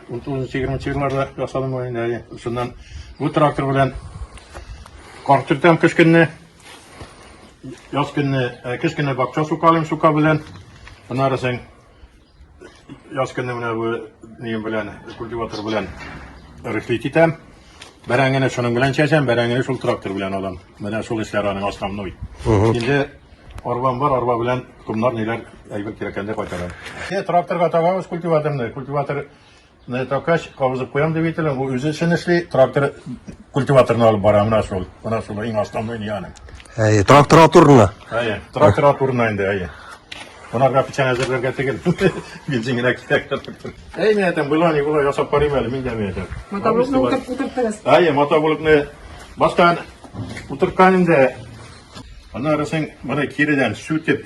Утызынчы егерменче елларда ясадым мин инде әле. Шуннан бу трактор белән кар төртәм кыш көнне. Яз көнне, ә, кыш көнне бакча сукалыйм сука белән. Аннары соң Яз көнне менә бу нигем белән, культиватор белән рыхлит итәм. Бәрәңгене шуның белән чәчәм, бәрәңгене шул трактор белән алам. Менә шул эшләр аның основной. Инде арбам бар, арба белән комнар ниләр әйбер кирәккәндә кайтарам. Е, тракторга табабыз культиваторны. Культиватор Менә Токач кабызып куям дип әйтелә, бу үзе эшен эшли, трактор культиваторны алып бара, менә шул. Менә шул иң основной не аның. Әйе, трактор атурына. Әйе, трактор атурына инде, әйе. Монарга печән әзерләргә тегел. Бензин генә кирәк. Әй, менә там была, не была, ясап карыйм әле, мин дә менә там. Мотоблокны утырып утыртырыз. Әйе, мотоблокны баштан утырткан инде. Аннары син моны киредән сүтеп,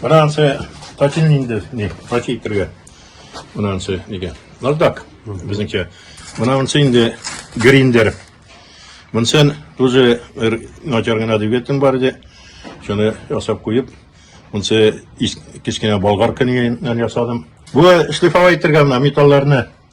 Менә ансы татил инде, не, татил кергә. Менә ансы нигә. Нардак, безнекә. Менә ансы инде гриндер. Монсын тоже бер начар гына двигатель бар иде. Шуны ясап куеп, монсы кечкенә болгар көненнән ясадым. Бу шлифовать итәргә менә металларны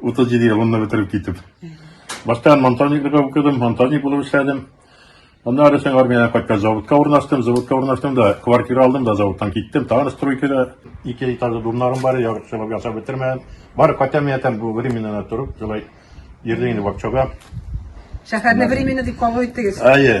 37 елымны бетереп китеп. Башта монтажниклыкка укыдым, монтажник булып эшләдем. Аннары соң армиядән кайткач заводка урнаштым, заводка урнаштым да, квартира алдым да заводтан киттем. Тагын стройкада ике этажлы думнарым бар, ярышлап ясап бетермәдем. Бар кайтам ятам бу временнан торып, шулай йөрдем инде бакчага. Шәһәрне временно дип кабул иттегез. Әйе.